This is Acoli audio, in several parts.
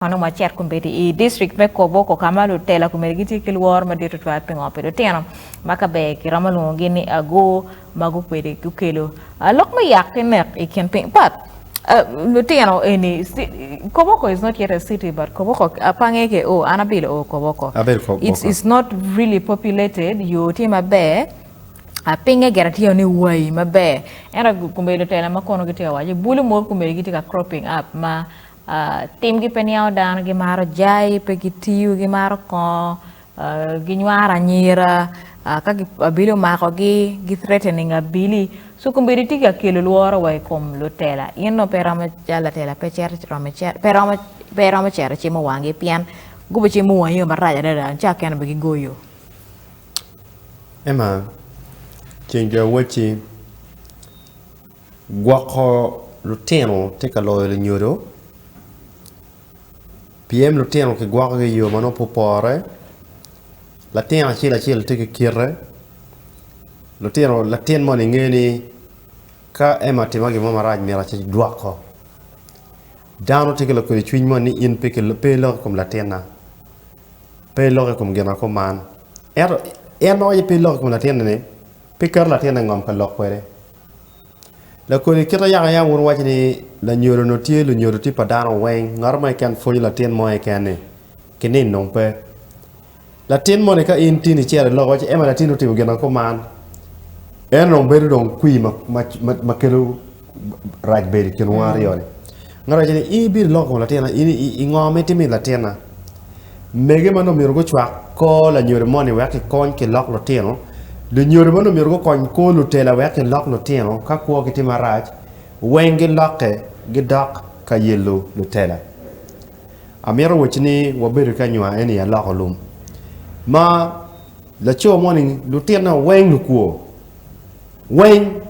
Onongo acito kombeddi i distrik me Koboko ka ma lutela komiti gitye ki lworo madit tutwal pi ngo pi lutino ma ka ber kiromo lwongogi ni ago ma gukwede gukelo lok me yak ki nek i kin piny pat lutino eni. Koboko is not yet a city but Koboko pa nge ke o an abilo o Koboko is not really populated yo tye maber pinge gire tye ni wai maber ento kombeddi lutela ma kono gitye ka waco bulu mogo kombeddi gitye ka cropping up ma Timgi pe niango dano, gimaro jai, pe gitiyo, gimaro kongo, ginywaro anyira, ka abili omakogi, gi threatening abili. So kombeddi tye ka kelo lworo wa i kom lutela. In nongo pe iromo calo latela pe cito romo cito pe iromo pe iromo cito icimo wangi pien gubicimo wangi yoo marac adada nca akene bene gigoyo. Emma, ceng jo awoc-ci. Gwoko lutino tye ka loyo lunyodo pien lutino kigwokogi i yo ma nongo pe opore latin acel acel tye ki kite lutino latin moni nge ni ka en ma otimma gin mo marac myero agwoko dano tye ki lokelo cwiny moni ni in pe iloko i kom latinna pe iloko i kom gina kuman ento en ma waco ni pe iloko i kom latinna ni pe keto latinna i ngom ka lok kwede. Lakoni kit ayaka ayaka wun wuwaco ni lanyodo onongo tye lunyodo tye pa dano weng, ngat mo keken pwonyo latin mo keken ni ki nino dong pe. Latin moni ka in tin icito iloko iwaci ni ema latinni otimo gin ma kuman, en onongo bedo dong kwir ma kelo rac bedo i kinwa aryo-ni. Ngat moni owaco ni in ibino iloko kom latinna, ingo ma itimo i latinna? Mege ma nongo myero gucwak kor lanyodo moni wek kikony ki lok lutino, lunyodo ma nongo myero gukony kor lutela wek kilok lutino ka kwo ki tye marac, weng gilokke gidok ka yelo lutela. Amito wacci ni wabedo ki anywa eni i aloko lum ma laco moni lutine o weng lukwo, weng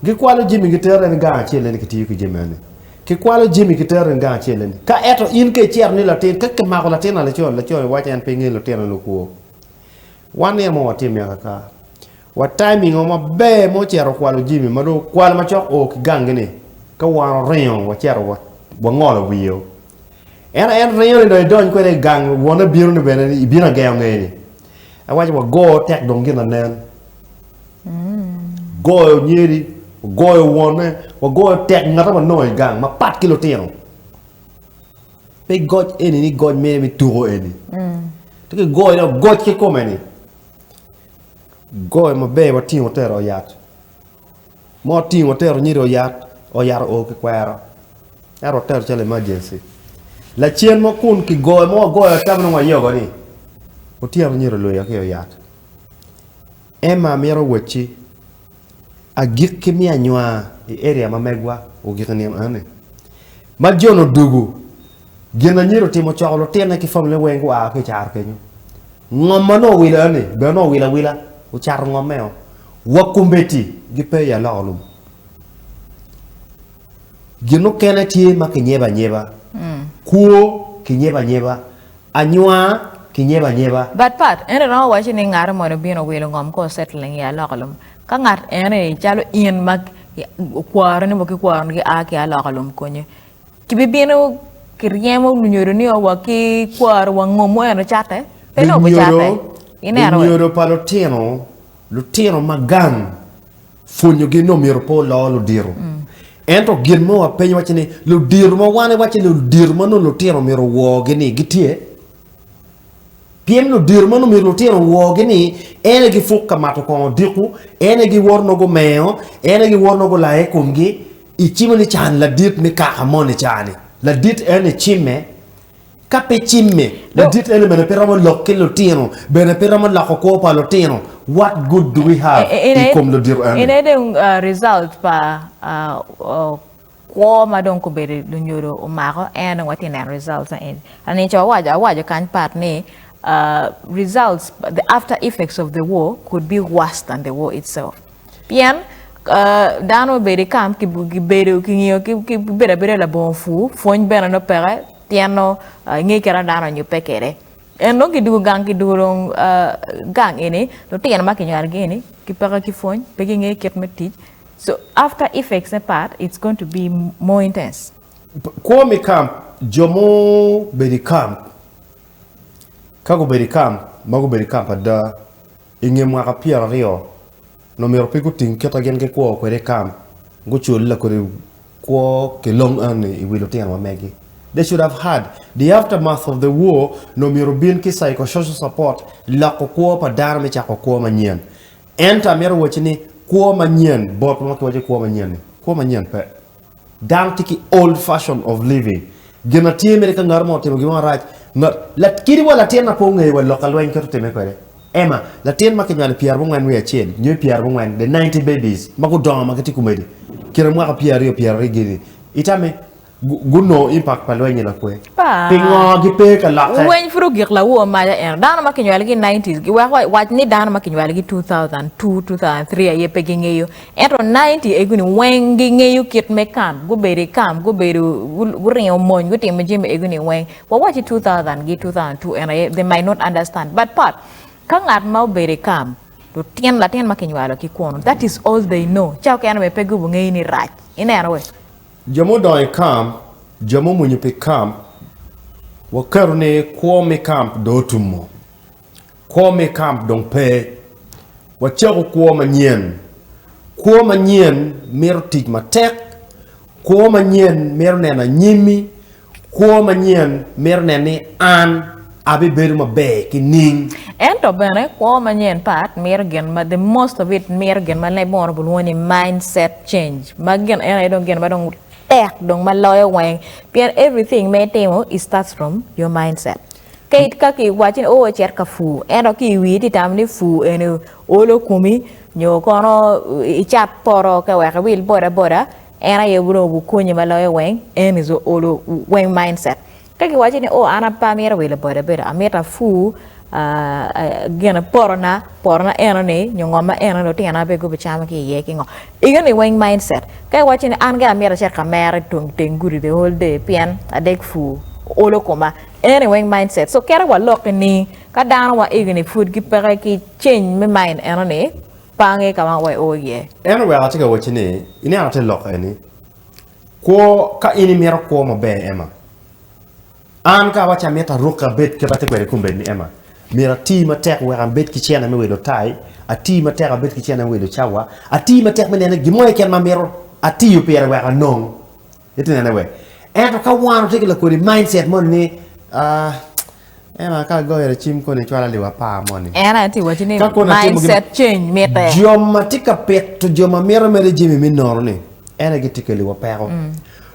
gikwalo jami gitero en i gang acel ento kitiyo ki jami eni. Kikwalo jami kitero in gang acel eni. Ka eto in ka icito ni latin, ka kimako latin laco, laco ni waco en pe ngeyo lutino ni okwo. Wan ni ema watimme akaka. Wa timing o maber ma ocito okwalo jami ma dong okwalo macok o ki gang gi ni ka wan oringo wacito wangolo wiye o. Ento en ringo ni dong idony kwede i gang wone bino ni bene ni ibino agengo ngeye ni. En waco wago tek dong gin anen. Goyo nyeri, wagoyo wonne, wagoyo tek ngate ma wanongo i gang mapat ki lutino. Pe goc eni ni goc mere me tuko eni. To ki goyo dok goc ki kome ni. Goyo maber watingo tero oyat. Mo tingo tero nyeri oyat, oyat oo ki kwero. Ero watero calo emergency. Lacen mo kun ki goyo mo wagoyo ata ma nongo wayogo ni. Otyeno nyeri olwega ki oyat. Emma mito wacci, Agikki mi anywa i eria ma megwa ogiko nino enoni. Ma John odugu, gin anyira otimo ocoko lutine ki famine weng gua ki i caro kenyo. Ngom ma nongo owilo enoni bene nongo owilo awila, ocato ngommeo. Wa kombeddi gipe i aloko lum. Gin mukene tye ma kinyeba anyeba, kwo kinyeba anyeba, Anywa ki nyeba anyeba. But part eni romo waco ni ngate moni obino owilo ngom ko settling i alokalum ka ngat eni calo in ma okwaro ni mogo ki kwaro ni gia ki alokalum konyo ki bi bino ki ryemo lunyodo ni owa ki kwaro wa ngomu eno cate pe nongo bu cate ineno lunyodo pa lutino lutino ma gang. Pwonyogi ni omyero pe oloo ludiro. Ento gin mo wapenyo wacce ni ludiro ma wan iwacce ni ludiro ma nongo lutino myero owogi ni gitye? Pien ludiro ma nongo myero lutino owogi ni en aye gipuk ka mato kongo odiko, en aye giwoto nongo gumengo, en aye giwoto nongo gulaye i komgi. Icimo ni cani ladit me kaka moni cani ladit ene icimme Ka pe cimme, ladit eni bene pe romo lok ki lutino, bene pe romo loko kwo pa lutino. What good do we have i kom ludito eni? Ene dong result pa kwo ma dong kobedo lunyodo omako en dong watye neno results na eni. Anico awaco awaco kany pat ni results the after effects of the war could be worse than the war itself. Pien dano obedo i kam kibedo kingiyo kibedo abeda labongo pur pwony bene nongo peke pien nongo inge kit ma dano onyubbe kwede en nongo kidugo gang kidugo dong gang eni lutino ma kinywalo gi eni kipeke ki pwony pe gingeyo kit me tic so after effects ne part it's going to be more intense. Kwo me kam jo ma obedo i kam ka gubedo i kam ma gubedo i kam ada. I nge mwaka pyeraryo, nongo omyero pe guting kite gin gikwo kwede i kamp, gucul lakodi kwo ki long anni i wi lutino ma megi. They should have had the aftermath of the war, nongo omyero obin ki psychosocial support, loko kwo pa dano me cako kwo manyen. Ento amito wacci ni kwo manyen, bot ma kiwaco kwo manyen-ni, kwo manyen pe. Dano tye ki old fashion of living, gin na tye mere ka ngato mo otimo gin mo marac, kadi wa latin na pe ongeyo wa lok ka lweny kit otime kwede, Emma, latin ma kinywalo i pyera bo ngwen wiye acel nyo i pyera bo ngwen, the ninety babies ma gudongo ma gitye komedi kine mwaka pyera aryo pyera aryo gini, itame gunongo impact pa lweny-nyi lakwe? Pingo gipe ka lokke? Lweny pud ogik lawo maca ento dano ma kinywalogi i nineties giweko wac ni dano ma kinywalogi two thousand two, two thousand three aye pe gingeyo Ento ninety egu ni weng gi ngeyo kit me kam, gubedo i kam, gubedo guringo mony, gutimo jami egu ni weng. Wa waci two thousand gi two thousand two en aye they might not understand but but ka ngat ma obedo i kam lutyen latin ma kinywalo ki kunu that is all they know ca okene bene pe gubu ngeyo ni rac ineno wee. Jo ma odongo i kam, jo ma omwonyo pi kam, waketo ni kwo mi kam dong otumo. Kwo me kamp dong pe. Wacako kwo manyen. Kwo manyen mito tic matek. Kwo manyen mito neno anyimmi. Kwo manyen mito neno ni an abibedo maber ki niing. Ento bene kwo manyen pat mito gin ma, the most of it mito gin ma leb oro bulwongo ni mindset change. Ma gin eno aye dong gin ma dong tek dong ma loyo weng. Pien everything ma itimo it starts from your mindset. Ka ka ki waci ni oo cet ka pur ento ki iwii ti tamo ni pur eni olo komi nyo kono icat poto ka wek iwil boda boda en aye dong obi konyi ma loyo weng en is olo weng mind set. Ka ki waci ni oo an pe amito wilo boda boda amito apur gin poto na poto na eno ni nyo ngo ma eno ni lutino na bene gubi camo ki iye ki ngo eno ni weng mind set. Ka iwaci ni an gira amito acit ka mera iteng gudi the whole day pien adek pur olo koma Eni weng mindset so kere wa loki ni ka dano wa igi ni pud gi peke ki change me mind eno ni pange ka ma wa oo iye. Eno wek atye ka wacci ni ineno ate lok eni kwo ka in imito kwo maber Emma an ka awaci amito aruke abed kit atye kwede kombeddi ni Emma myero ati matek wek abed ki cene me wilo tai ati matek abed ki cene me wilo cawa ati matek me nene gin mo keken ma amito atiyo pire wek anong Ite nene we. Ento ka wan otye ki lakodi mindset moni ni ah en aye ka agoyo racim koni ecwala liwa apar moni. En aye tye ka wacci ni Ka kono atimo gin- mindset change mitte. Jo ma tye ka pito jo ma mito mere jami me nono-ni, en aye gitye keliwa peko.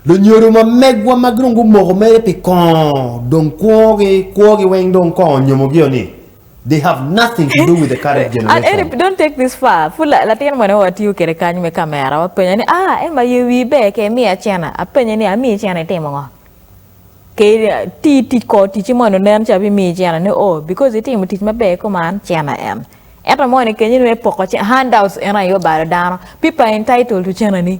Lunyodo ma megwa ma dong gumoko mere pi kongo dong kwogi kwogi weng dong kongo onyomogi-o ni They have nothing to do with the current generation. An don't take this far. Pud latin mwene watiyo kede kany me kamera wapenye ni ah Emma aye wii ber ke imiya cena. Apenye ni amiyi cena itimo ngo? Ke ti tic kor ticci moni onen ca bimiyi cena ni oh because itimo tic maber kuman cena en. Ento moni kenyo ni me poko cena handouts en aye obalo dano. People are entitled to cena ni.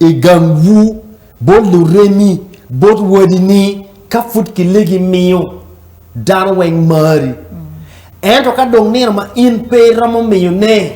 I gangwu bot luremi, bot wadi ni ka pud kilegi miyo dano weng mari. Ento ka dong nino ma in pe iromo miyo ne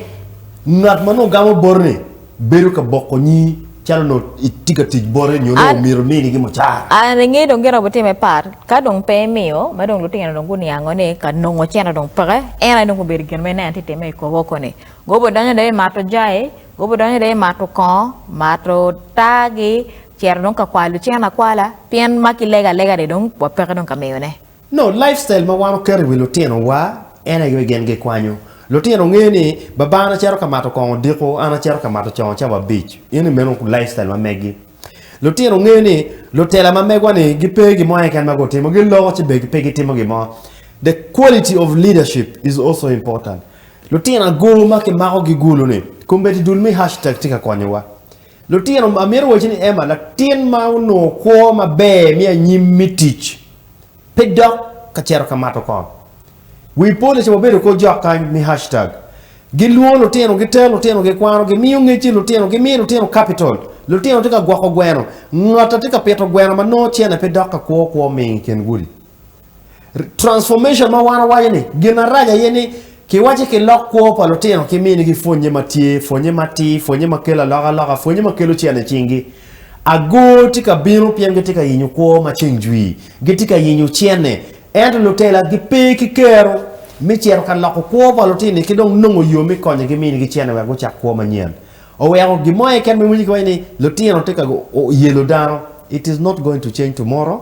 ngat ma nongo gamo boti ni bedo ka boko nyi calo nongo itye ka tic bote nyo nongo omyero imini gi mucara. An angeyo dong gin aye wubitimo me part ka dong pe imiyo ma dong lutino dong guniango ni ka nongo cene dong peke en aye dong obedo gin me ne an atye ka teme i kobo koni. Goba odonyo dong i mato jai Gubidonyo i lee mato kongo, mato taagi, cito dong ka kwalo lucene akwala, pien ma ki lego alega ni dong wapeke dong ka miyone. No lifestyle ma wan oketo i wi lutino wa en aye gin gi kwanyo lutino nge ni baba an acito ka mato kongo odiko, an acito ka mato congo cawa abic, in ni meno lifestyle ma megi. Lutino nge ni lutela ma megwa ni gi pe gi mo keken ma gu timo, gi loko ci bene pe gi timo gi mo. The quality of leadership is also important. Lutino agulu ma kimakogi gulu ni, Kombeddi dul me hashtag tye ka konyowa. Lutino, amito wacci ni Emma latin ma onongo kwo maber me anyim me tic pe dok ka cito ka mato kong. Wi police wabedo kor jok kany me hashtag. Gilwongo lutino, gitero lutino, gikwano, gimiyo ngecci lutino, gimiyo lutino capital. Lutino tye ka gwoko gweno. Ngata tye ka pito gweno ma nongo cene pe dok ka kwo kwo ming i kin gudi. Transformation ma wan wawaco ni gin arac aye ni kiwaco ki lok kwo pa lutino ki mini ki pwonye ma tye, pwonye ma tir, pwonye ma kelo aloka aloka, pwonye ma kelo cene i cingi. Agor tye ka bino pien gitye ka yenyo kwo ma ceng jwi, gitye ka yenyo cene. Ento lutela gi pe ki kero me cito ka loko kwo pa lutini ki dong nongo yo me konyo gi mini ki cene wek gucak kwo manyen. Oweko gin mo aye keken ma iwinyo ki waco ni lutino tye ka yelo dano, it is not going to change tomorrow.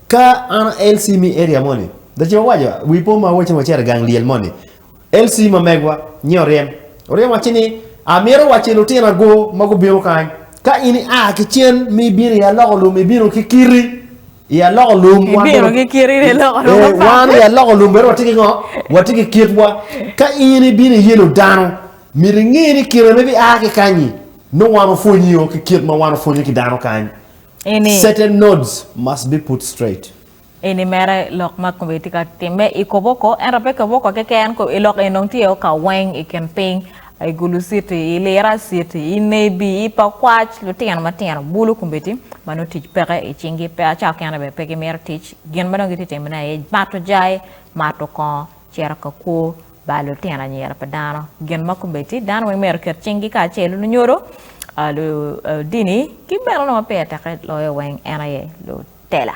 Ka an LC me area moni, the ci wawaco wi po ma wacci wacito i gang lyel moni, LC ma megwa nyi oryem, oryem wacci ni amito wacci lutina go ma gubino kany, ka in i a ki cen ma ibino i aloko lum ibino ki kiti i aloko lum, Ibino ki kiti ni loko lum ee, wan apat. i aloko lum bene watye ki ngo? Watye ki kitwa, ka in ibino i yelo dano myero inge ni kine ma ibi a ki kanyi nongo wan opwonyi o ki kit ma wan opwonyo ki dano kany, Eni. Certain nodes must be put straight. Eni mere lok ma kome tye ka timme i Koboko, ento pe Koboko keken, i lok eni dong tye o ka weng i kin piny, i Gulu City, i Lira City, i Nebi, i Pakwac, lutino matino bulu kombeddi ma nongo tic peke i cingi, pe aca okene bene pe gimito tic, gin ma dong gitye ka timone aye mato jai, mato kongo, cito ka kwo, Ba lutino anyira pa dano gin ma kombeddi. Dano weng myero oket cinggi kacel, lunyodo, ludini, ki bene lwongo ma pire teke loyo weng en aye lutela.